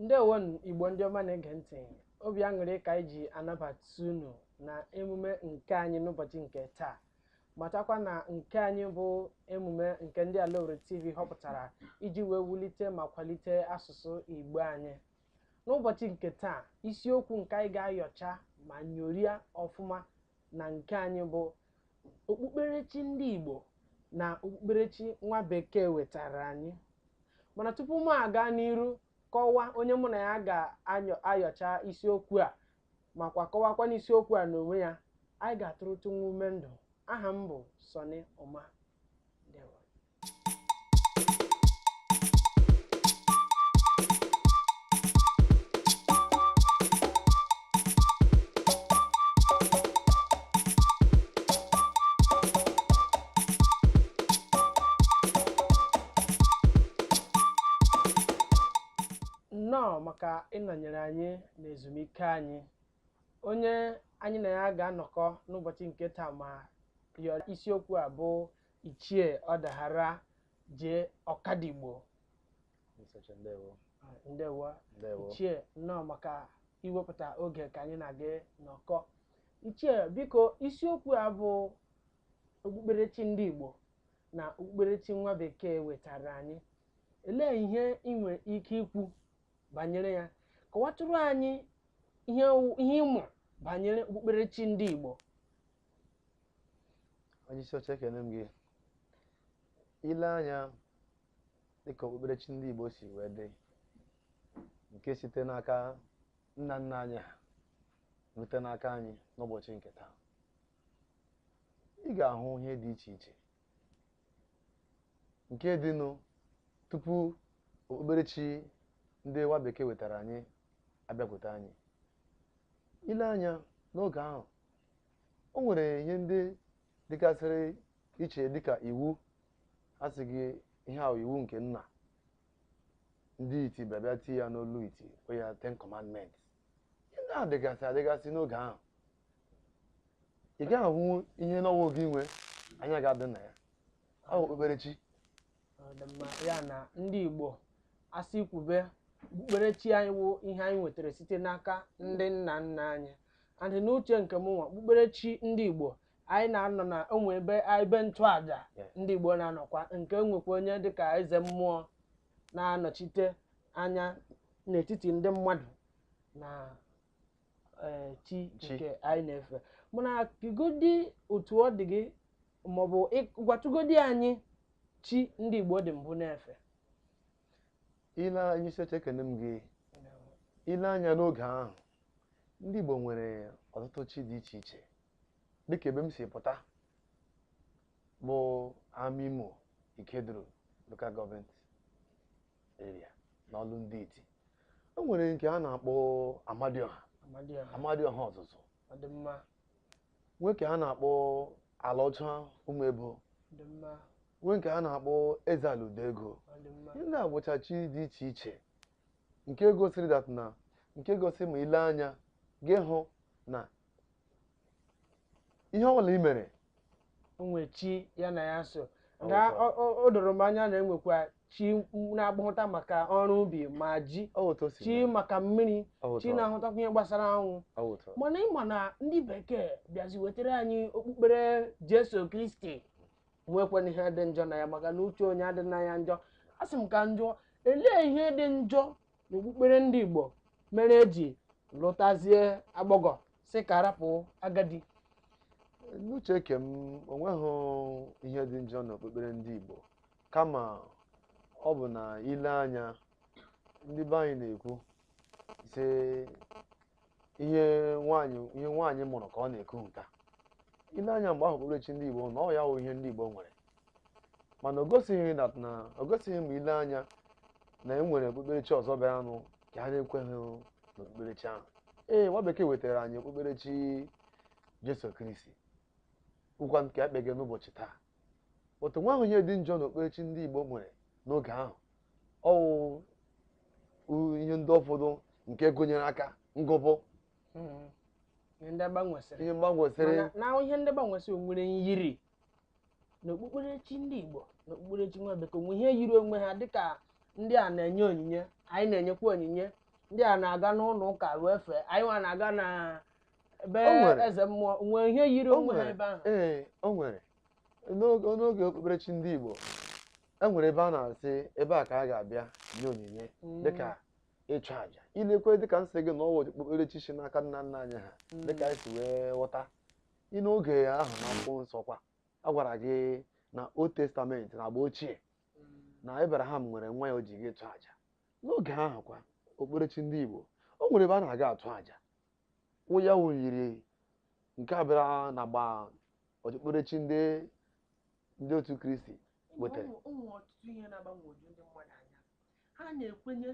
ndewonụ igbo ndị ọma na-ege ntị obi aṅụrị ka anyị ji anabata unu na emume nke anyị n'ụbọchị nke taa matakwa na nke anyị bụ emume nke ndị Alaowerri TV họpụtara iji wee wulite ma kwalite asụsụ Igbo anyị n'ụbọchị nke taa isiokwu nke anyị ga-ayọcha ma nyoria ọfụma na nke anyị bụ okpukperechi ndị Igbo na okpukperechi nwa bekee wetara anyị mana tupu m aga n'iru kọwaa onye mụ na ya ga-ayọcha isiokwu a makwa kọwakwanụ isiokwu a n'onwe ya anyị ga-atụrụtụ nwa ume ndụ aha m bụ Sọnị Ụma ndewo nnọọ maka ịnọnyere anyị n'ezumike anyị onye anyị na ya ga-anọkọ n'ụbọchị nke taa ma yọọ isiokwu a bụ ichie ọdaghara jee ọkadigbo ndewo. ichie nnọọ maka iwepụta oge ka anyị na gị nọkọọ ichie biko isiokwu a bụ okpukperechi ndị igbo na okpukperechi nwa bekee wetara anyị olee ihe ị nwere ike ikwu banyere ya kọwatụrụ anyị ihe ị ma banyere okpukperechi ndị Igbo onye isi oche ekene m gị i lee anya dịka okpukperechi ndị Igbo si wee dị nke site n'aka nna nna anyị ha rute n'aka anyị n'ụbọchị nke taa ị ga-ahụ ihe dị iche iche nke dịnụ tupu okpukperechi ndị nwa bekee wetara anyị abịakwute anyị i lee anya n'oge ahụ o nwere ihe ndị dịgasịrị iche dịka iwu a sị gị ihe ahụ iwu nke nna ndị iti bịabịa ti ya n'olu iti o ya ten commandments ihe ndị ahụ dịgasị adịgasị n'oge ahụ ị gaghị ahụ ihe n'ọnwa oge inwe anya ga-adị na ya ọ bụ okpukperechi ya na ndị Igbo asị kwube okpukperechi anyị wụ ihe anyị nwetara site n'aka ndị nna nna anyị and n'uche nke m nwa okpukperechi ndị Igbo anyị na-anọ na o nwe ebe ebe ntụaja ndị Igbo na-anọkwa nke nwekwa onye dịka eze mmụọ na-anọchite anya n'etiti ndị mmadụ na ee, chi Chi. nke anyị na-efe mana kwugodi otu ọ dị gị maọbụ ị- gwatụgodi anyị chi ndị igbo dị mbụ na-efe ile anya isi oche ekene m gị ile anya n'oge ahụ ndị Igbo nwere ọtụtụ chi dị iche iche dịka ebe m si pụta bụ Amaimo Ikeduru local government area n'ọlụ ndị iti e nwere nke a na-akpọ amadioha Amadioha. Amadioha Ozuzu Ọ dị mma. nwee nke a na-akpọ ala ọcha Ụmụebo Ọ dị mma. nwee nke a na-akpọ eze ala udo ego Ọ dị mma. ihe ndị a bụcha chi dị iche iche nke gosiri that na nke gosiri ma ile anya gị hụ na ihe ọ bụla i mere o nwe chi ya na ya so Ọ na bụ ọ- ọ- o doro m anya na e nwekwa chi na-agbahụta maka ọrụ ubi ma ji ọ bụ otu o si chi mee. maka mmiri Ọ bụ chi otu ọ- na-ahụtakwa ihe gbasara anwụ ọ bụ otu ọ- mana ị ma na ndị bekee bịazi wetara anyị okpukpere jesu kristi nwekwanụ ihe dị njọ na ya maka na uche onye adị na ya njọ a sị m ka njọ elee ihe dị njọ na okpukpere ndị igbo mere e ji lụtazie agbọghọ sị ka a rapụ agadi n'uche nke m o nweghị ihe dị njọ n'okpukpere ndị igbo kama ọ bụ na ile anya ndị be anyị na-ekwu sị ihe nwaanyị ihe nwaanyị mụrụ ka ọ na-eku n'aka ile anya mgbe ahụ okpukperechi ndị Igbo na ọ ya wụ ihe ndị Igbo nwere mana o gosighị na na o gosighị ma ile anya na e nwere okpukperechi ọzọ bịara nụ ka ha na-ekweghị n'okpukperechi ahụ ee nwa bekee wetara anyị okpukperechi Jesu Kristi wụkwa nke e kpege n'ụbọchị taa but o nweghị ihe dị njọ n'okpukperechi ndị Igbo nwere n'oge ahụ ọ wụ ihe ndị ụfọdụ nke gụnyere aka ngụpụ hmm. ihe ndị gbanwesịrị ihe gbanwesịrị na ihe ndị gbanwesịrị nwere nyiri na okpukperechi ndị Igbo na okpukperechi nwa bekee o nwe ihe yiri onwe ha dịka ndị a na-enye onyinye anyị na-enyekwa onyinye ndị a na-aga n'ụlọ ụka ruo efe anyị nwa na-aga na ebe eze mmụọ nwee ihe yiri onwe ha ebe ahụ ee o nwere n'oge okpukperechi ndị Igbo o nwere ebe a na-asị ebe a ka a ga-abịa nye onyinye dịka ịchụ àjà i lekwa dịka m sị gị na ọ wụ okpukperechi si n'aka nna nna anyị ha dịka anyị si wee ghọta ị n'oge ahụ na akwụkwọ nsọ kwa a gwara gị na old testament na agba ochie na abraham nwere nwa ya o ji gaa ịchụ àjà n'oge ahụ kwa okpukperechi ndị igbo o nwere ebe a na-aga atụ àjà ọ wụ ya wụ nyiri nke a bịara na agba okpukperechi ndị ndị otu kristi wetara mm ọtụtụ ihe na-agbagwoju ndị mmadụ anya ha na-ekwenye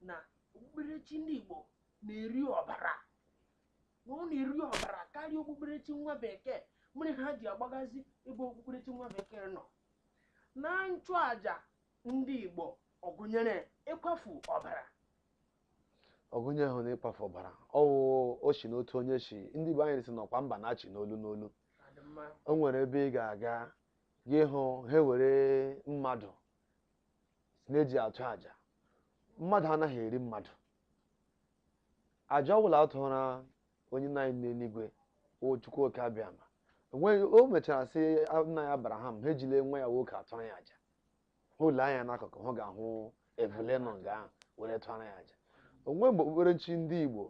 na okpukperechi ndị igbo na-eri ọbara na ọ na-eri ọbara karịa okpukperechi nwa bekee mere ha ji agbagazi ebe okpukperechi nwa bekee nọ na nchụaja ndị igbo ọ gụnyere ịkwafu ọbara ọ gụnyehụ nụ ịkwafu ọbara ọ wụ o si n'otu onye si ndị be anyị sị na ọkwa mba na-achị n'olu n'olu o nwere ebe ị ga-aga gị hụ ha were mmadụ sị na e ji atụ aja mmadụ anaghị eri mmadụ aja ọbụla a tụra onye nna anyị n'eluigwe wụ chukwu oke abịama enweghị o mechara sị nna anyị abraham ha ejile nwa ya nwoke atụrụ ya aja ha lee anya n'akụkụ ha ga-ahụ ebule nọ nga ahụ were tụara ya aja o nweghị mgbe okpukperechi ndị igbo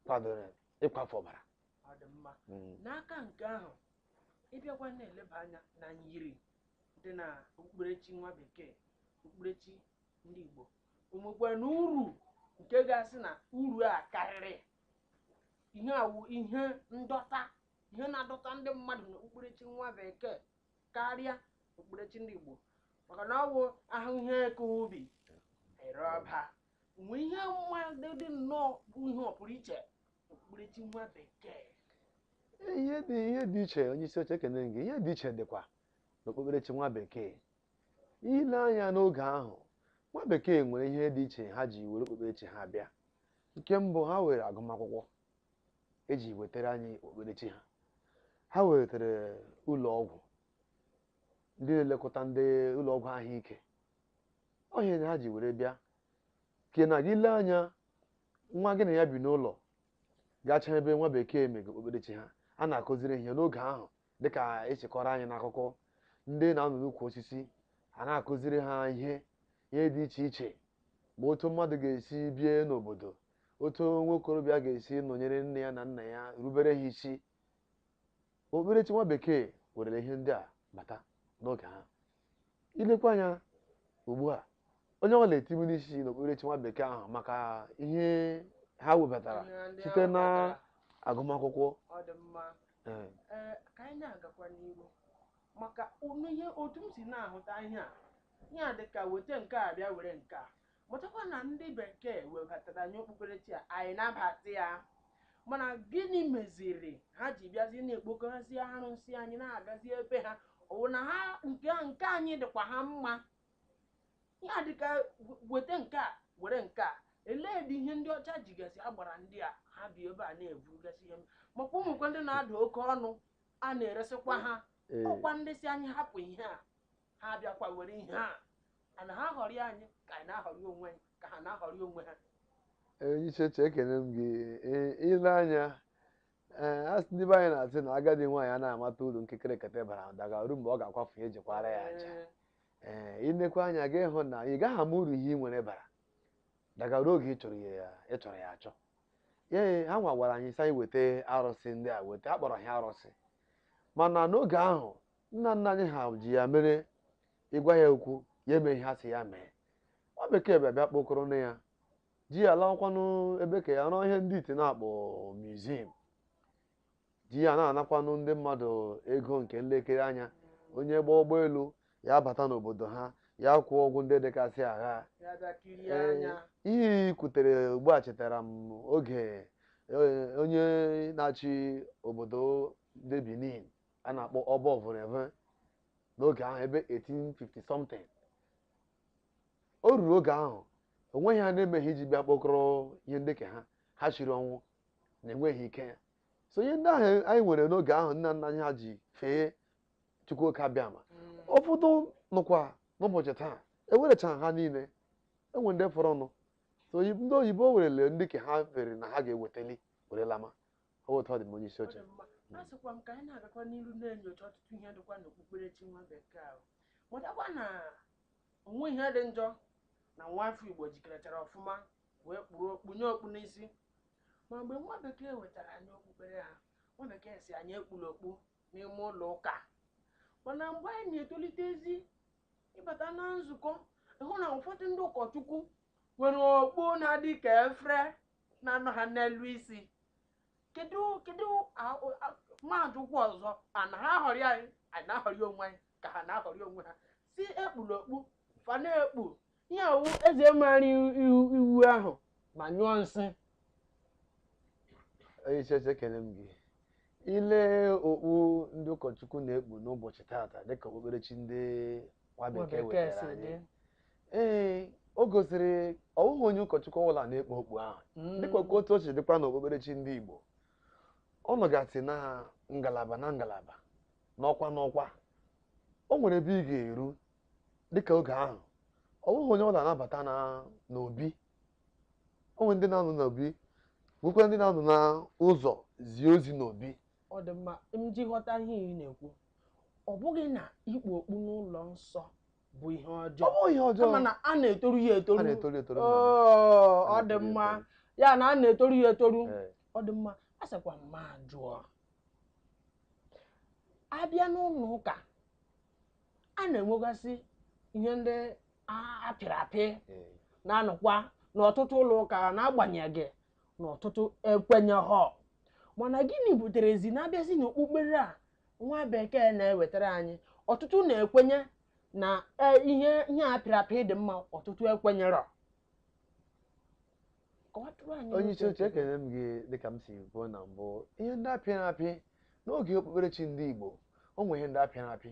kwadoro ịkwafu ọbara ọ dị mma Mm. n'aka nke ahụ ị bịakwa na-eleba anya na nyiri dị na okpukperechi nwa bekee okpukperechi ndị igbo o nwekwanụ uru nke a ga-asị na uru a karịrị ihe a wụ ihe ndọta ihe na-adọta ndị mmadụ na okpukperechi nwa bekee karịa okpukperechi ndị Igbo maka na ọ bụ a hụ ihe ka ubi e ree ọba mgbe ihe mmadụ dị nnọọ bụ ihe ọ pụrụ iche okpukperechi nwa bekee ihe dị ihe dị iche onye isi oche ekene gị ihe dị iche dịkwa n'okpukperechi nwa bekee i lee anya n'oge ahụ nwa bekee nwere ihe dị iche ha ji were okpukperechi ha bịa nke mbụ ha were agụmakwụkwọ e ji wetara anyị okpukperechi ha ha wetara ụlọ ọgwụ ndị na-elekọta ndị ụlọ ọgwụ ahụike ọha na ha ji were bịa ke na gị lee anya nwa gị na ya bi n'ụlọ gachaa ebe nwa bekee mega okpukperechi ha a na-akụziri ihe n'oge ahụ dịka e si kọọrọ anyị n'akụkọ ndị na-anọ n'ukwu osisi a na-akụziri ha ihe ihe dị iche iche ma otu mmadụ ga-esi bie n'obodo otu nwa okorobịa ga-esi nọnyere nne ya na nna ya rubere ha isi okpukperechi nwa bekee werere ihe ndị a bata n'oge ha ilekwa anya ugbu a onye ọbụla etibu n'isi n'okpukperechi nwa bekee ahụ maka ihe ha webatara site n'agụmakwụkwọ ọ dị mma ee, ee ka anyị na-agakwa n'iru maka ụnụ ihe otu m si na-ahụta ihe a ihe a dị ka weta nke a bịa were nke a Matakwa na ndị Bekee webatara anyị okpukperechi a, anyị nabata ya. Mana gịnị meziri ha ji bịazi na-ekpokọzi arụsị anyị na-agazi ebe ha? Ọ bụ na ha nke nke anyị dịkwa ha mma? Ya dịka weta nke a were nke a ilee ụdị ihe ndị ọcha jigasị agbara ndị a ha bịa ebe a na-eburugasị ihe makwa ụmụ ihe ndị na-ada oke ọnụ a na-eresịkwa ha ọkwa ndị si anyị hapụ ihe a ha abịakwa were ihe a a na ha aghọrị anyị ka anyị na-aghọrị onwe anyị ka ha na-aghọrị onwe ha onye isi oche ekene m gị Ee, ile anya ee a sị ndị be anyị na-asị na agadi nwaanyị a na-amata uru nkịrịka ekete bara daga ruo mgbe ọ ga-akwafu ya ejikwara ya aja Ee, ee inekwa anya ị ga-ahụ na ị gaghị ama uru ihe ị nwere bara daga ruo oge ị chọrọ ya ị chọrọ ya achọ ya ee, ha nwa gwara anyị sị anyị weta arụsị ndị a weta a kpọrọ ha arụsị mana n'oge ahụ nna nna anyị ha ji ya mere ị gwa ya okwu ya eme ihe a sị ya mee nwa bekee bịa bịa kpokọrọnụ ya ji ya lawakwanụ be ha ya rụọ ihe ndị ite na-akpọ museum ji ya na-anakwanụ ndị mmadụ ego nke nlekere anya onye gba ụgbọelu ya abata n'obodo ha ya kwụọ ụgwọ ndị dịgasị ya ya bịa kirie Ee, anya ihe i kwutere ugbu a chetara m oge eh, onye na-achị obodo ndị Benin a na-akpọ ọba Ovonramwen n'oge ahụ ebe 1850 something o ruru oge ahụ o nweghị ha na-emeghị iji bịa kpokọrọ ihe ndị nke a ha shiri ọnwụ na enweghị ike ya so ihe ndị ahụ anyị nwere n'oge ahụ nna nna anyị ha ji fee chukwu oke abịama ụfọdụ nọkwa n'ụbọchị taa ewerecha ha niile enwere ndị fọrọnụ so oyi- ndị oyibo werele ndị nke ha chere na ha ga-ewetali were lama ọ otu ọ dị m onye isi oche a sịkwa m ka anyị na-agakwa n'iru na-enyocha ọtụtụ ihe dịkwa n'okpukperechi nwa bekee ahụ matakwa na o nwe ihe dị njọ na nwa afọ igbo jikerechara ọfụma wee kpuru kpunye okpu n'isi ma mgbe nwa bekee wetara anyị okpukpere ha nwa bekee si anyị ekpula okpu n'ime ụlọ ụka mana mgbe anyị na-etolitezi ị bata na nzukọ ị hụ na ụfọdụ ndị ụkọchukwu nwere okpu na-adị ka efere na-anọ ha n'elu isi kedu kedu m ajụkwuo ọzọ a na ha aghọrị anyị anyị na-aghọrị onwe anyị ka ha na-aghọrị onwe ha si ekpuna okpu fa na-ekpu ihe a wụ eze mara iwu ahụ ma nyụọ nsị onye isi oche ekele m gị i lee okpu ndị ụkọchukwu na-ekpu n'ụbọchị taata dịka okpukperechi ndị nwa Nwa bekee bekee wetara si anyị dị. ee o gosiri ọ wụghị onye ụkọchukwu ọbụla na-ekpu okpu ahụ Mm. dịkwa ka otu o si dịkwa n'okpukperechi ndị Igbo ọ nọgasị na ngalaba na ngalaba n'ọkwa n'ọkwa o nwere ebe ị ga-eru dịka oge ahụ ọ wụghị onye ọbụla na-abata na n'obi o nwere ndị na-anọ n'obi nwekwara ndị na-anọ n'ụzọ zie ozi n'obi ọ dị mma m ji ghọta ihe ị na-ekwu ọ bụghị na ikpu okpu n'ụlọ nsọ bụ ihe ọ ọjọọ bụ ihe ọjọọ kama na a na-etoru ya a etoru na-etoru etoru nna m. Oo, ọ A dị na-etoru ya mma etoru. ya na a na-etoru ya etoru Ee. ọ dị mma a sịkwa m ma jụọ a bịa n'ụlọ ụka a na-enwegasị ihe ndị a pịrị apị eh. na-anọkwa n'ọtụtụ ụlọ ụka n'agbanyeghị na ọtụtụ ekwenyehọ mana gịnị buterezi na a bịazị n'okpukpere a nwa bekee na-ewetara anyị ọtụtụ na-ekwenye na e, ihe ihe a pịrị apị dị mma ọtụtụ ekwenyerọ onye isi oche ekele m gị dịka m si kwuo na mbụ ihe ndị a pịrị apị n'oge okpukperechi ndị Igbo o nwere ihe ndị a pịrị apị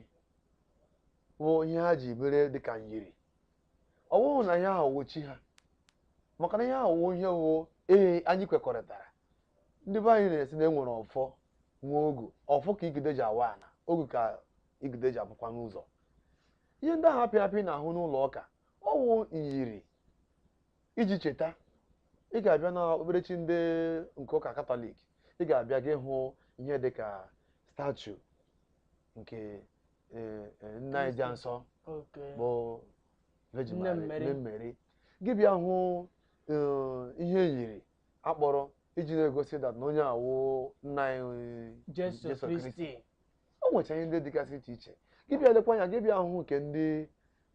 bụ ihe ha ji mere dịka nyiri ọ bụghị na ihe ahụ wụ chi ha maka na ihe ahụ wụ ihe wụ ee anyị kwekọrịtara ndị be anyị na-asị na e nwere ọfọ nwee ogu ọfọ ka igide ji awa ana ogu ka igide ji apụkwa n'ụzọ ihe ndị ahụ a pịrị apị a na-ahụ n'ụlọ ụka ọ wụ nyiri iji cheta ị ga-abịa na okpukperechi ndị nke ụka katọlik ị ga-abịa gị hụ ihe dị ka statu nke eh, eh, nne anyị dị nsọ Okay. bụ Virgin Nne Mary- Mary. Nne Mary gị bịa hụ eh, ihe yiri a kpụrụ iji na-egosi that na onye a wụ nna anyị Jesu Jesu Kristi. Kristi. o nwecha ihe ndị dịgasị iche iche gị bịa lekwa anya gị bịa hụ nke ndị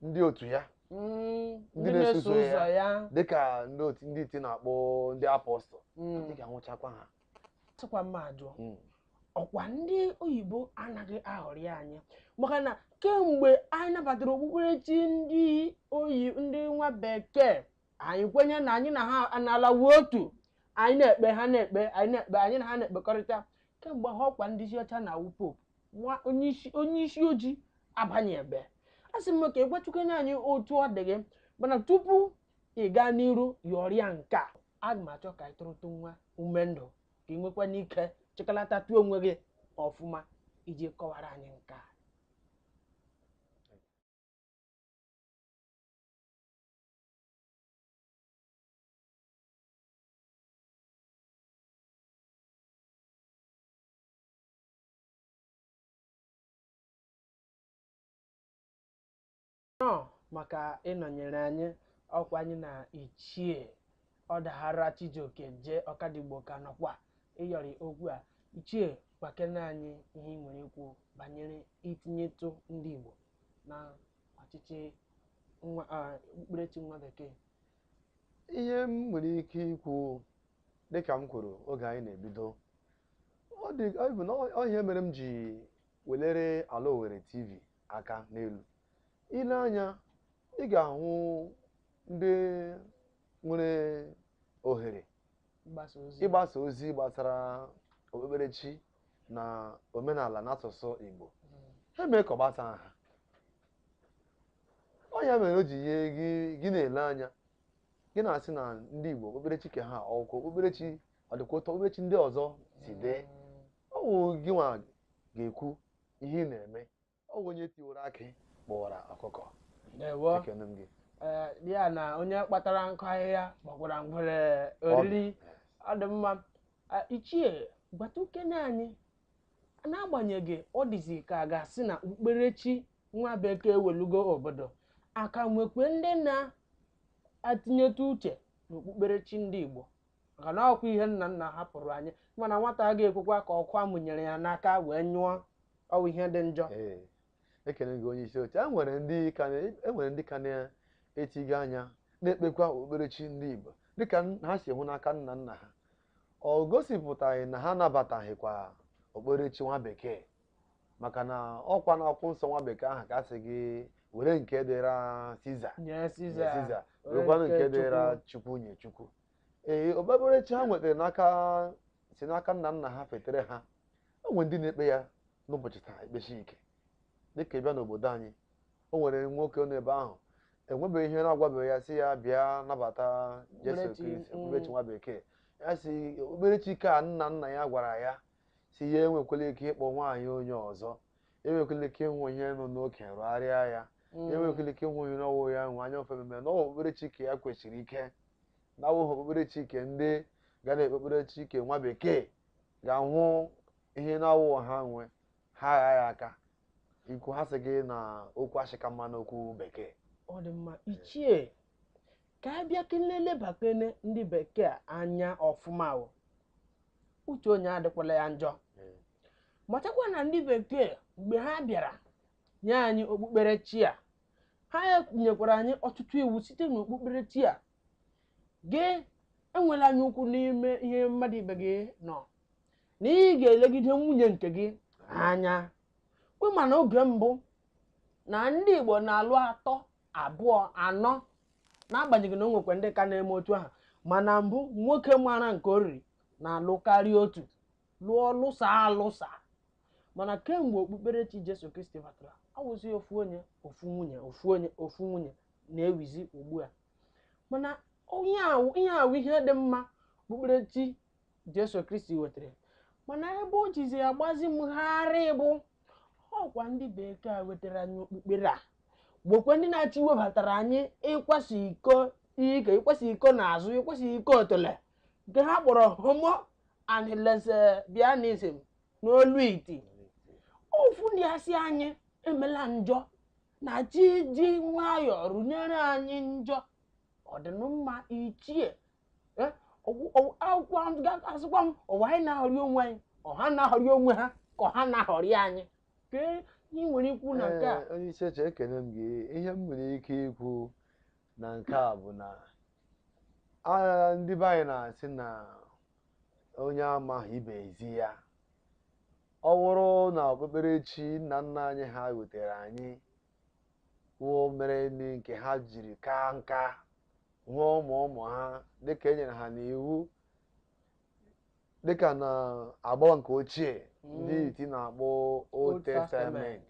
ndị otu ya Mm, Ndị na-eso ụzọ ya dịka ndị otu ndị iti na-akpọ ndị apọstụl Mm, ị ga-ahụchakwa ha a sịkwa m ma jụọ Mm. ọkwa ndị oyibo anaghị aghọrị anyị maka na kemgbe anyị nabatara okpukperechi ndị oyi ndị nwa bekee anyị kwenye na anyị na ha analawo otu anyị na-ekpe ha na-ekpe anyị na-ekpe anyị na ha na-ekpekọrịta kemgbe ahụ ọkwa ndị isi ọcha na-awụ Pope nwa onye isi onye isi ojii abanye ebe a sị m ka ị gwachukwenye anyị otu ọ dị gị mana tupu ị gaa n'iru yọrịa nke a aga m achọ ka ị tụrụtụ nwa ume ndụ ka ị nwekwanụ ike chịkọlatatụ onwe gị ọfụma iji kọwara anyị nke a nnọọ maka ịnọnyere anyị ọkwa anyị na ichie ọdahara chijioke jee ọkadigbo ka nọkwa ịyọrị okwu a ichie gwakene anyị ihe ị nwere ikwu banyere itinyetụ ndị igbo na ọchịchị nwa ah, okpukperechi nwa bekee ihe m nwere ike ikwu dịka m kwuru oge anyị na-ebido ọ dị ọ bụ na ọ- ọ ihe mere m ji welere ala Owerri TV aka n'elu i lee anya ị ga-ahụ ndị nwere ohere mgbasa ozi ịgbasa ozi gbasara okpukperechi na omenala na asụsụ Igbo ha mee ka ọ gbasa ha ọ ya mere o ji ihe gị gị na-ele anya gị na-asị na ndị Igbo okpukperechi ke ha okpu- okpukperechi ọ dịkwa otu okpukperechi ndị ọzọ si dị ọ wụ gị nwa ga-ekwu ihe ị na-eme ọ bụ onye tiwara akị kpọrọ ọkụkọ ndewo ekene m gị ee ya na onye kpatara nkụ ahịhịa kpọkwara ngwere oriri ọ dị mma Ah, ichie gwatụkene anyị n'agbanyeghị ọ dịzi ka a ga-asị na okpukperechi nwa bekee welugo obodo aka nwekwe ndị na-atinyetụ uche n'okpukperechi ndị igbo maka na ọkwa ihe nna nna hapụrụ anyị mana nwata a ga-ekwekwa ka ọkụ a mụnyere ya n'aka wee nyụọ ọ wụ ihe dị njọ Ee, ekele gị onye isi oche e nwere ndị ka na- e nwere ndị ka na-etiga anya na-ekpekwa okpukperechi ndị Igbo dịka n- ha si hụ n'aka nna nna ha ọ gosipụtaghị na ha anabataghịkwa okpukperechi nwa bekee maka na ọkwa na akwụkwọ nsọ nwa bekee ahụ ka a sị gị were nke dịra siza nye nye siza siza were werekwanụ nke nke dịra chukwu nye chukwu ee okpukperechi ha nwetara n'aka si n'aka nna nna ha fetere ha o nwere ndị na-ekpe ya n'ụbọchị taa ekpesi ike dịka ị bịa n'obodo anyị o nwere nwoke nọ ebe ahụ enwebeghị ihe na-agwabeghị ya sị ya bịa nabata Jesu Okpukperechi, Kristi mm. okpukperechi nwa bekee ya sị okpukperechi ke nna nna ya gwara ya sị ya enwekwala ike ịkpọ nwaanyị onye ọzọ enwekwala ike ịhụ ihe nọ n'oke rụgharịa ya enwekwala ike ịhụ ihe na-awụ ya nwe anya ofe mmemme na ọ wụ okpukperechi ke ya kwesịrị ikpe na awụghị okpukperechi ke ndị ga na okpukperechi ke nwa bekee ga-ahụ ihe na-awụ ha nwe ha agha ya aka ikwu ha sị gị na okwu ashị ka mma n'okwu bekee ọ dị mma ichie ka anyị bịa ka anyị lebakene ndị bekee anya ọfụma o uche onye adịkwala ya njọ Ee. matakwa na ndị bekee mgbe ha bịara nye anyị okpukperechi a ha nyekwara anyị ọtụtụ iwu site n'okpukperechi a gị enwela anya ukwu n'ihe mmadụ ibe gị nọ na ị ga-elegide nwunye nke gị anya kwe ma na oge mbụ na ndị Igbo na-alụ atọ abụọ anọ n'agbanyeghị na o nwekwa ndị ka na-eme otu ahụ mana mbụ nwoke mara nke o riri na-alụ karịa otu lụọ lụsa alụsa mana kemgbe okpukperechi Jesu Kristi batara ọ wụzi ofu onye ofu nwunye ofu onye ofu nwunye na-ewuzi ugbu a mana ihe a wụ ihe dị mma okpukperechi Jesu Kristi wetara mana ebe o jizi agbazi m gharịị bụ ọkwa ndị bekee a wetara anyị okpukpere a bụkwa ndị na-achọ iwebatara anyị ịkwasa iko ike ịkwasa iko n'azụ ịkwasa iko otole nke ha kpọrọ homo and lesbianism n'olu iti ofu ndị a sị anyị emela njọ na-achọ iji nwayọọ rụnyere anyị njọ ọ dị mma ichie Eh, ọ wụ- ọ wụ- akwụkwọ ahụ ga- asịkwa m ọ wụ anyị na-aghọrị onwe anyị ọ ha na-aghọrị onwe ha ka ọ ha na-aghọrị anyị kee ihe ị nwere ikwu na nke a Ee, onye isi oche ekene m gị ihe m nwere ike ikwu na nke a bụ na a- ndị be anyị na-asị na onye amaghị ibe ezi ya ọ bụrụ na okpukperechi nna nna anyị ha wetara anyị wụ mere ndị nke ha jiri kaa nka hụọ ụmụ ụmụ ha dịka e nyere ha n'iwu dịka na agba nke ochie ndị Mm. iti na-akpọ Old Testament.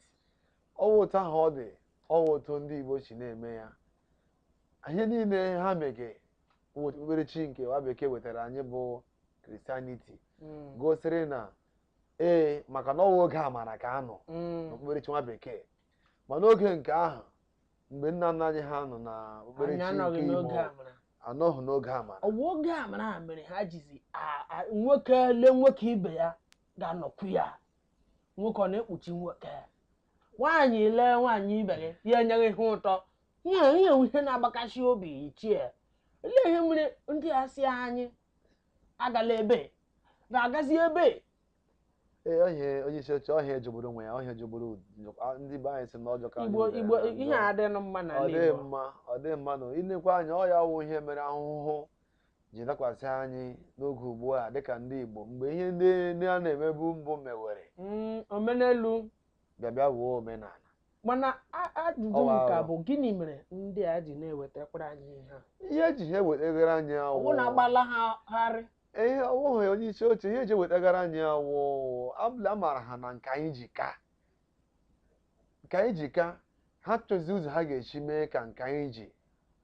ọ wụ otu ahụ ọ dị ọ wụ otu ndị igbo si na-eme ya ihe niile ha mege wụ okpukperechi nke nwa bekee wetara anyị bụ Christianity Mm. gosiri na ee maka na ọ wụ oge amara ka a nọ Mm. n'okpukperechi nwa bekee ma n'oge nke ahụ mgbe nna nna anyị ha nọ na okpukperechi anọghị n'oge amara ọ wụ oge amara a mere ha jizi a- a- nwoke lee nwoke ibe ya ga-anọkwu ya nwoke ọ na-ekpuchi nwoke nwaanyị lee nwaanyị ibe gị ya enye gị ihe ụtọ ihe ihe ihe na-agbakashi obi ichie olee ihe mere ndị a sị anyị agala ebe na-agazi ebe ee onye onye isi oche ọ ihe jọgburu onwe ya ọ ihe jọgburu njọ- a- ndị be anyị sị na ọjọọ ka anyị igbo nwere igbo na njọ. ihe a adịghị mma na ọ dịghị mma ọ dịghị mma na i lekwa anya ọ ya wụ ihe mere ahụhụ ji dakwasị anyị n'oge ugbu a dịka ndị Igbo mgbe ihe ndị ndị a na-emebu mbụ mewere Mm, omenelu bịa bịa wuo omenala mana a- ajụjụ Ọwa m ka aghụghọ. bụ gịnị mere ndị a ji na-ewetakwara anyị ihe a ihe eji ha ewetagara anyị ọ bụ na awụ agbala ha harị ihe ọwụghị onye isi oche ihe eji ewetagara anyị wụ amara ha na nke anyị ji ka nke anyị ji ka ha chọzi ụzọ ha ga-esi mee ka nke anyị ji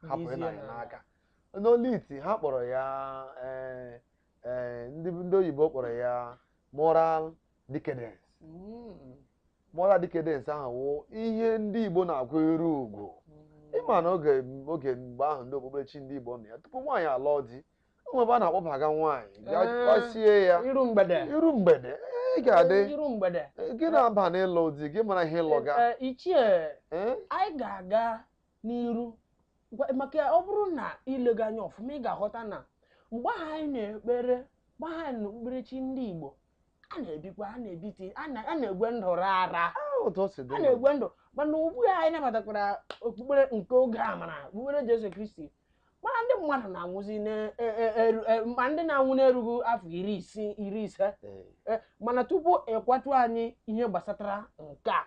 hapụ Dizie ịna anyị n'ala. n'aka n'oliti ha kpọrọ ya ee, ee ndị ndị oyibo kpọrọ ya moral decadence Mm. moral decadence ahụ wụ ihe ndị igbo na-akpọ iru ugwu ịma na oge oge mgbe ahụ ndị okpukperechi ndị igbo nọ ya tupu nwaanyị alụọ di o nwe ebe a na-akpọbaga nwaanyị gaa Ee. a sị ya iru mgbede iru mgbede ị ga-adị iru mgbede gị na-aba n'ịlụ di gị amara ihe ịlụ ga Eh, ichie Eh? anyị ga-aga n'iru Gwa- maka ya, ọ bụrụ na ilega anya ọfụma ị ga-aghọta na mgbe ahụ anyị na-ekpere mgbe ahụ anyị nọ okpukperechi ndị Igbo a na-ebikwa a na-ebiti a na- a na-egwe ndụ rara otu o si dị a na-egwe ndụ mana ugbu a anyị nabatakwara okpukpere nke oge amara okpukpere Jesu Kristi mana ndị mmadụ na-anwụzi na- e- e- eru- e- ma ndị na-anwụ n'erughị afọ iri isii iri ise Ee. Eh, mana tupu ị gwatụ anyị ihe gbasatara nke a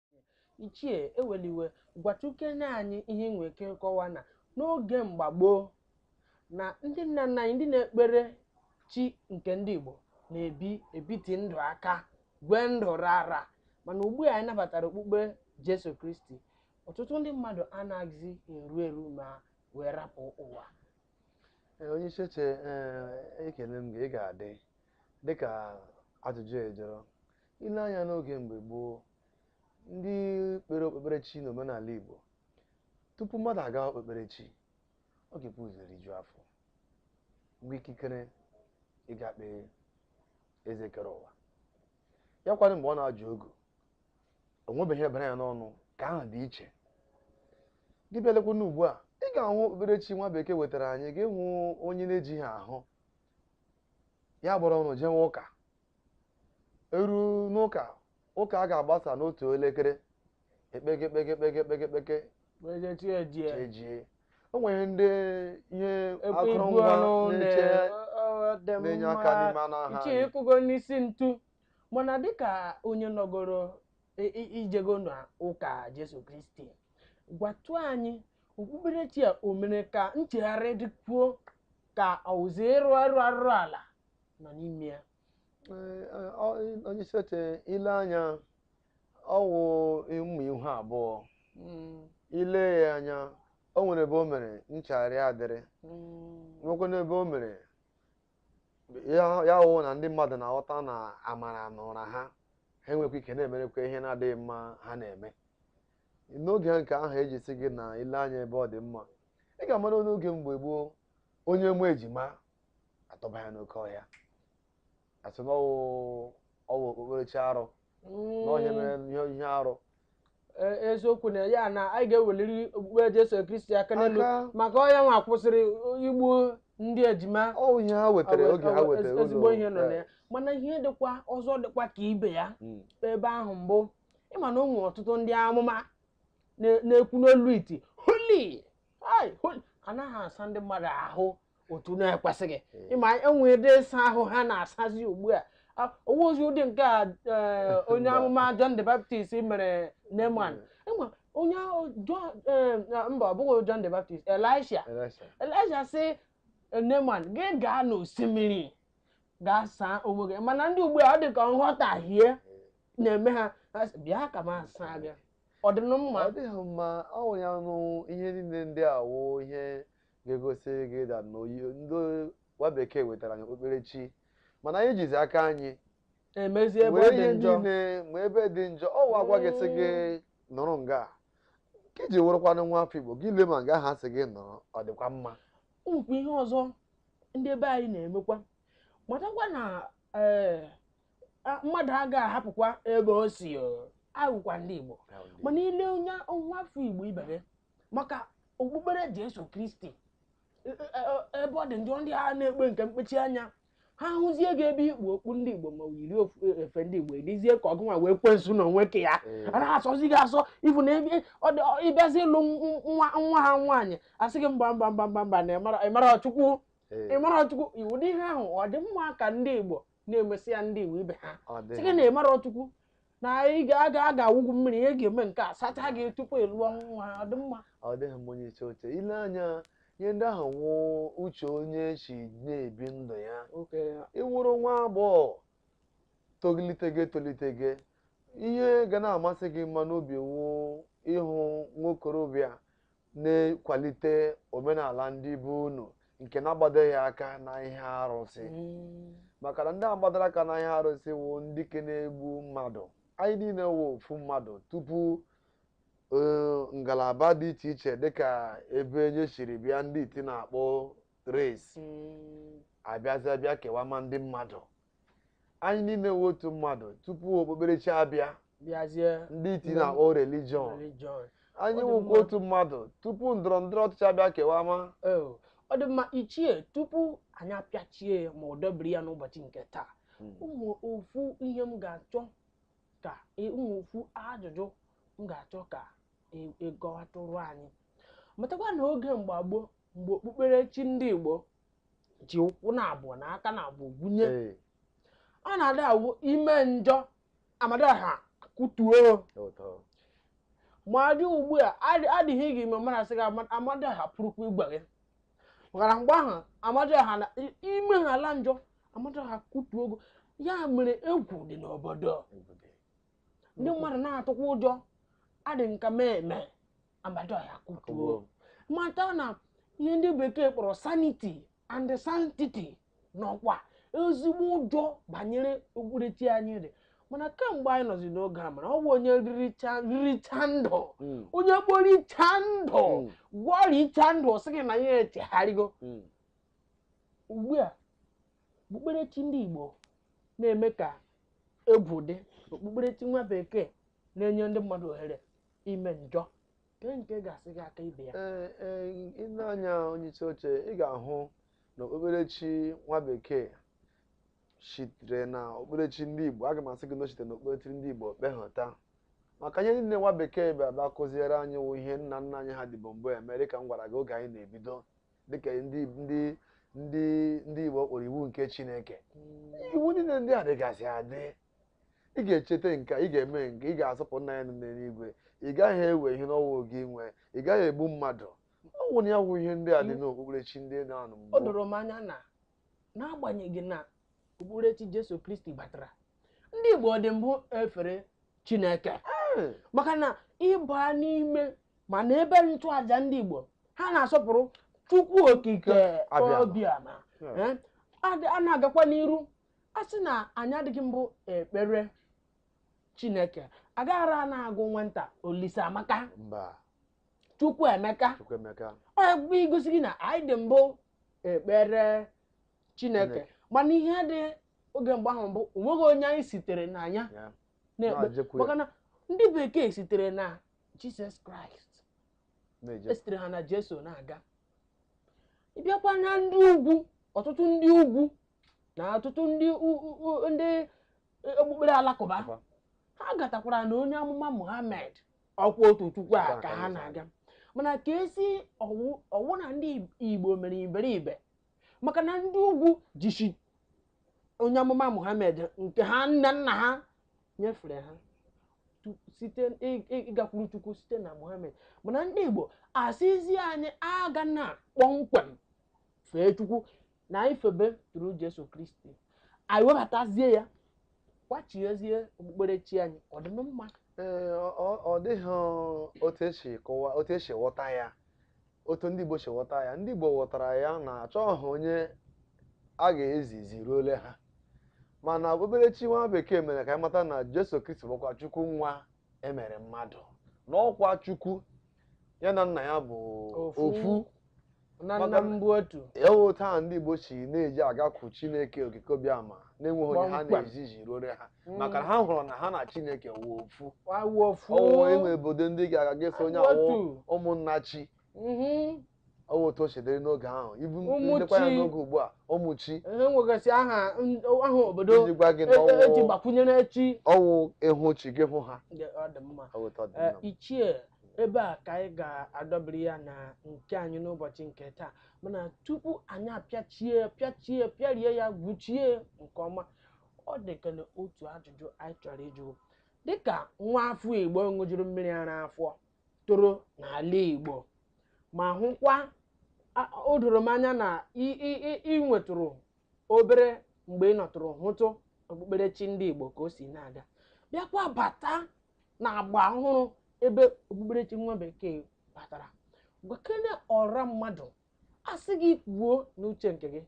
Ichie Eweliwe, gwatụkene anyị ihe ị nwere ike ịkọwa na n'oge mgbe gboo na ndị nna nna anyị ndị na-ekpere chi nke ndị Igbo na-ebi ebiti ndụ aka gwee ndụ rara mana ugbu a anyị nabatara okpukpe Jesu Kristi ọtụtụ ndị mmadụ anaghịzi eru eru ma wee rapụ ụwa Ee, onye isi oche ee, ekele m gị ị ga-adị dịka ajụjụ a jụrụ I lee anya n'oge mgbe gboo, ndị kpere okpukperechi n'omenala Igbo, tupu mmadụ agawa okpukperechi, ọ ga-ebu ụzọ rijuo afọ, nwee ikikere ịga kpee eze kere ụwa. Ya kwanụ mgbe ọ na-ajụ ogu, o nwebeghị ebere ya n'ọnụ ka ahụ dị iche. Gị bịa lekwa n'ugbu a, ị ga-ahụ okpukperechi nwa bekee wetara anyị, gị hụ onye na-ejighị ahụ ya buru ọnụ jewe ụka eru n'ụka ụka a ga-agbasa n'otu elekere ekpeke ekpeke ekpeke ekpeke ekpeke Wee chi ejie. ejie o nwere ndị ihe Ekwe ibu akụrụngwa ọnụ na-eche na- ọ- ọ dị na-enye aka mma. n'ime anụ ahụ Ichie anyị. ịkụgo n'isi ntu mana dịka onye nọgoro i- i- ijego na ụka Jesu Kristi gwatụ anyị okpukperechi a o mere ka nchegharị dịkwuo ka ọ wụzi ịrụ arụ arụrụ ala nọ n'ime ya onye isi oche ile anya ọ wụ mma ihu abụọ ile ya anya o nwere ebe o mere nchagharị adịrị nwekwa n'ebe o mere ya wụ na ndị mmadụ na-aghọta na amara na ụra ha ha enwekwa ike na-emekwa ihe na-adịghị mma ha na-eme n'oge nke ahụ eji sị gị na ile anya ebe ọ dị mma ị ga-ama na n'oge mgbe gboo onye mụọ ejima atụba ya n'oke ọhịa asị na ọwụ ọwụ okpukperechi arụ n'ọhịa mere ihe ihe arụ E- eziokwu na ya na anyị ga-eweliri okpukpe Jesu Kristi aka n'elu Aka. maka ọ ya nwa kwụsịrị igbu ndị ejima ọwụ ihe ha wetara Awe- oge ha awe- wetara ezi- ezigbo ihe nọ na ya mana ihe dịkwa ọzọ dịkwa ka ibe ya Mm. ebe ahụ mbụ ịma na o nwere ọtụtụ ndị amụma na- na-ekwu n'olu iti holi ai, holi ana ha asa ndị mmadụ ahụ otu na-ekwesịghị ịma o nwere ụdị ịsa ahụ ha na-asazi ugbu a A- ọ wụghịzi ụdị nke a eh, onye amụma John the Baptist mere Naaman ịma onye ahụ John- eh, na- mba ọ bụghị John the Baptist Elisha Elisha. Elisha sị Naaman gị gaa n'osimiri gaa saa onwe gị mana ndị ugbu a ọ dị ka nghọtahie na-eme ha ha sị, bịa ka m asaa gị ọ dị na mma ọ dịghị mma ọ wụ ya nụ ihe niile ndị a wụ ihe ga-egosi gị na na ọ wụ ndị nwa bekee wetara anyị okpukperechi mana anyị jizi aka anyị emezi ebe ọ were dị ihe njọ niile ma ebe dị njọ ọ wụ agwa gị sị gị nọrọ nga a. nke iji wụrụkwanụ nwa afọ igbo gị lee ma nga ha sị gị nọrọ ọ dịkwa mma o nwekwa ihe ọzọ ndị be anyị na-emekwa matakwa na ee, a- mmadụ agaghị ahapụkwa ebe o si o. awụkwa ndị igbo mana ile onye nwa afọ igbo ibe gị maka okpukpere jesu kristi e, e, e, ebe ọ dị njọ ndị ha na-ekpe nke mkpechi anya ha hụzie gị ebe i kpu okpu ndị igbo ma yiri efe ndị igbo ọ dịzie ka ọ gị nwa wụ ekwensu n'onwe ke ya mm. a na-asọzi gị asọ ibu na ebe ịbịazi ịlụ nwa nwa ha nwaanyị asị gị mba mba mba mba mba na ị marọ chukwu ị marọ chukwu ụdị ihe ahụ ọ dị mma ka ndị igbo na-emesị ya ndị igbo ibe ha Ọ dị. sị gị na ị marọ chukwu na ị ga-aga aga awụ gị mmiri ị ga-eme nke a sacha gị tupu ị lụọ nwa ọ dị mma ọ dịghị mma onye isi oche ile anya ihe ndị ahụ wụ uche onye si na-ebi ndụ ya okay ị wụrụ nwa agbọghọ tolitego etolitego ihe ga na-amasị gị mma n'obi wụ ịhụ nwokorobịa nkwalite omenala ndị be unu nke na-agbadoghị aka na ihe arụsị Mm. maka na ndị agbadara aka na ihe arụsị wụ ndị ke na-egbu mmadụ anyị niile wụ ofu mmadụ tupu eh, ngalaba dị iche iche dịka ebe onye siri bịa ndị iti na-akpọ race Mm. abịazịa bịa kewama ndị mmadụ anyị niile wụ otu mmadụ tupu okpukperechi abịa bịazie ndị iti na-akpọ religion anyị wụkwa otu mmadụ tupu ndọrọ ndọrọ ọchịchị abịa kewama Oh, ọ dị mma ichie tupu anyị apịachie ya ma ọ dọbiri ya n'ụbọchị nke taa o nwe ofu ihe m ga-achọ ka e- o nwe ofu ajụjụ m ga-achọ ka e- ị kọwatụrụ anyị matakwa na oge mgbe gboo mgbe okpukperechi ndị Igbo ji ụkwụ na abụọ na aka na abụọ gwunye Ee, ọ na-adị awụ i mee njọ Amadioha kụtuo gị. ma adị ugbu a adị- adịghị gị ime mara sị gị ama- Amadioha pụrụkwa igbu gị maka mgbe ahụ amada ha na i- ime ha ala njọ Amadioha kụtuo gị ya mere egwu dị n'obodo ndị mmadụ na-atụkwa ụjọ adị nka mee eme Amadioha kụtuo mata na ihe ndị bekee kpọrọ sanity and sanctity nọkwa ezigbo ụjọ banyere okpukperechi anyị dị mana kemgbe anyị nọzi n'oge a mara ọ bụ onye riricha riricha ndụ Mm, onye kporicha ndụ Mm. kporicha ndụ ọ sị gị na ya echegharịgo mm, ugbu a okpukperechi ndị Igbo na-eme ka egwu dị okpukperechi nwa bekee na-enye ndị mmadụ ohere ime njọ nke nke ga-asị gị ka ibe ya ee ee i nee anya onye isi oche ị ga-ahụ na okpukperechi nwa bekee sitere na okpukperechi ndị igbo aga m asị gị na o sitere na okpukperechi ndị igbo kpehọta maka ihe niile nwa bekee bịara bịa kụziere anyị wụ ihe nna nna anyị ha dịbu mbụ eme dịka m gwara gị oge anyị na-ebido dịka ndị ndị ndị ndị igbo kpọrọ iwu nke chineke iwu niile ndị a dịgasị adị ị ga-echeta nke a, ị ga-eme nke ị ga-asọpụrụ nna anyị nọ n'eluigwe ị gaghị ewe ihe na-awụghị gị nwe ị gaghị egbu mmadụ ọ wụnụ ya wụ ihe ndị a dị n'okpukperechi ndị nọ na mbụ o doro m anya na n'agbanyeghị na okpukperechi jesu kristi batara ndị igbo dị mbụ efere chineke Ee, maka na ị baa n'ime ma na ebe nchụaja ndị igbo ha na-asọpụrụ chukwu okike Abịama. obiama Yeah. Eh, a dị- a na-agakwa n'iru a sị na anyị adịghị mbụ ekpere chineke agaghara a na-agụ nwata olise amaka mba chukwu emeka chukwu emeka ọ bụ igosi gị na anyị dị mbụ ekpere chineke Chineke. mana ihe dị oge mgbe ahụ bụ o nweghị onye anyị sitere na ya ya na-ekpe Na-ejekwu ya. maka na ndị bekee sitere na jizọs kraịst na-eje esitere ha na jesu na-aga ịbịakwa na ndị ugwu ọtụtụ ndị ugwu na ọtụtụ ndị ndị okpukpere alakụba ha gatakwara na onye amụma Muhammad ọkwa otu chukwu a ka ha na-aga mana ka e si ọ wụ na ndị Igbo mere iberibe maka na ndị ugwu jisi onye amụma Muhammad nke ha nna nna ha nyefere ha n'ịgakwuru chukwu site na Muhammad mana ndị Igbo asịzi anyị aga na kpọmkwem fee chukwu na anyị febetụrụ Jesu Kristi anyị webatazie ya kwachiezie okpukperechi anyị ọ dị mma ee ọ- ọ- ọ dịghị otu e si kọwa otu e si ghọta ya otu ndị Igbo si ghọta ya ndị Igbo ghọtara ya na achọghị onye a ga-ezizi ruole ha mana okpukperechi nwa bekee mere ka anyị mata na Jesu Kristi bụkwa Chukwu nwa e mere mmadụ na ọkwa chukwu ya na nna ya bụ Ofu. ofu na nna m bụ otu ewe otu ahụ ndị igbo si na-eji agakwu chineke okike obiama na-enweghị onye ha Kpọmkwem. na-ezizi ruore ha Mm. maka na ha hụrụ na ha na chineke wụ ofu Wa- wa ofu ọnwụ e nwe obodo ndị ga-aga ga-asị onye Awụ awụ otu. Ụmụnnachi Mhm. ọ bụ otu o si dịrị n'oge ahụ ibu Ụmụ ndekwa ya chi. n'oge ugbu a ụmụchi e nwegasị aha n- aha obodo iji gwa gị na e- e- eji ọ wụ gbakwunyere chi ọ wụ ịhụ chi gị hụ ha Ndị ọ dị mma ọ bụ otu ọ dị Ee, nna m. ichie ebe a ka anyị ga-adọbiri ya na nke anyị n'ụbọchị nke taa mana tupu anyị apịachie pịachie pịarie ya gwuchie nke ọma ọ dị ka na otu ajụjụ anyị chọrọ ịjụ dịka nwa afọ igbo ṅụjuru mmiri ara afọ toro n'ala igbo ma hụkwa a- o doro m anya na ị- ị- ị- ị nwetụrụ obere mgbe ị nọtụrụ hụtụ okpukperechi ndị igbo ka o si na-aga bịakwa bata na agba ọhụrụ ebe okpukperechi nwa bekee batara gwakene ọra mmadụ a sị gị kwuo n'uche nke gị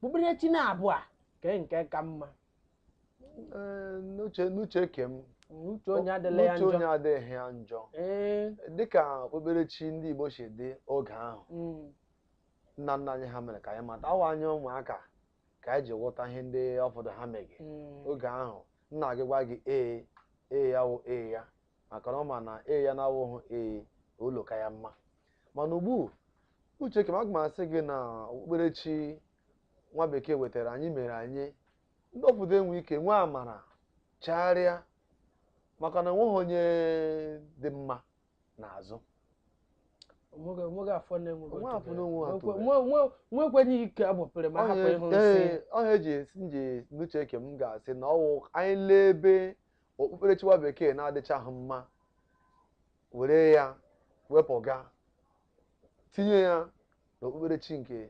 okpukperechi naabọ a kee nke ka mma Ee, n'uche n'uche ke m uche onye adịla ya n'uche onye njọ adịghị ya njọ ee dịka okpukperechi ndị Igbo si dị oge ahụ mm, nna nna anyị ha mere ka anyị matawa anyị ụmụaka ka anyị ji ghọta ihe ndị ụfọdụ ha mege mm, oge ahụ nna gị gwa gị ee ee ya wụ ee ya maka na ọ ma na ee ya na-awụghị ee ụlọ ka ya mma mana ugbu uche ka m aga m asị gị na okpukperechi nwa bekee wetara anyị mere anyị ndị obodo enwe ike nwee amara chagharịa maka na enweghị onye dị mma n'azụ onweghị onweghị afọ na-enweghị Onwe afọ na-enweghị otu atụrụ. Onwe- onwe- nwekwenye ike a gbapere ma hapụ ịhụ nsị ọha eji esi m ji n'uche nke m ga-asị na ọwụ anyị lee ebe okpukperechi nwa bekee na-adịchaghị mma were ya wepụga tinye ya n'okpukperechi nke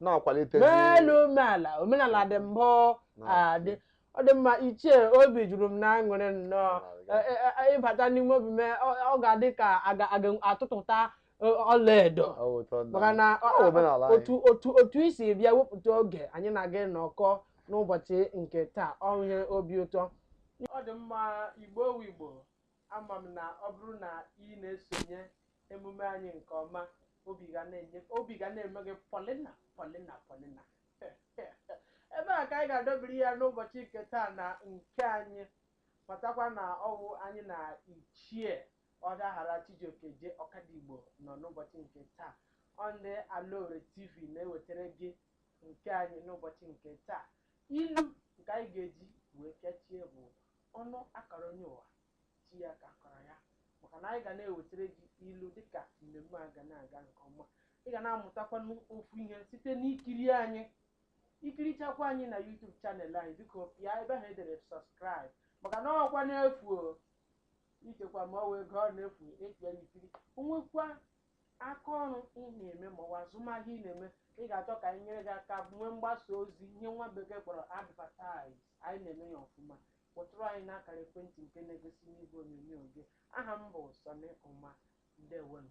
na-akwalitezi n'elu omeala omenala dị mbụ adị ọ dị mma ichie obi juru m n'aṅụrị nnọọ E- e- e- ịbata n'ime obi mee ọ ọ ga-adị ka a ga- a ga-atụtụta e- ọlaedo Ọ bụ ụtọ nna maka m. na ọ- Ọ bụ omenala anyị. otu otu otu i si bịa wepụta oge anyị na gị nọkọọ n'ụbọchị nke taa ọ wụ ihe obi ụtọ ọ dị mma Igbo wụ Igbo Ama m na ọ bụrụ na ị na-esonye emume anyị nke ọma, obi ga na-enye obi ga na-eme gị pọlịna pọlịna pọlịna. Ebe a ka anyị ga-adọbiri ya n'ụbọchị nke taa na nke anyị. Matakwa na ọwụ anyị na Ichie Ọdaghara Chijioke J. Ọkadigbo nọ n'ụbọchị nke taa. Ọ ndị Alaore TV na-ewetere gị nke anyị n'ụbọchị nke taa. Ilu nke anyị ga-eji wee pịachie bụ Ọnụ a kọrọ onye ụwa, chi ya ka a kọrọ ya. Maka na anyị ga na-ewetere gị ilu dịka mmemme a ga na-aga nke ọma. Ị ga na-amụtakwanụ ofu ihe site n'ikiri anyị. I kirichakwa anyị na YouTube channel anyị, biko pịa ebe ahụ e dere subscribe maka na ọkwa n'efu o. Ichekwa ma ọ wụ ego ọ na-efu ịpịa ya ikiri. O nwekwa aka ọrụ ị na-eme maọbụ azụmahịa ị na-eme ị ga-achọ ka anyị nyere gị aka nwee mgbasa ozi ihe nwa bekee kpọrọ advertise anyị na-eme ya ọfụma kpọtụrụ anyị n'akara ekwentị nke na-egosi n'igwe onyonyo gị aha m bụ Sọnị Ụma ndewonu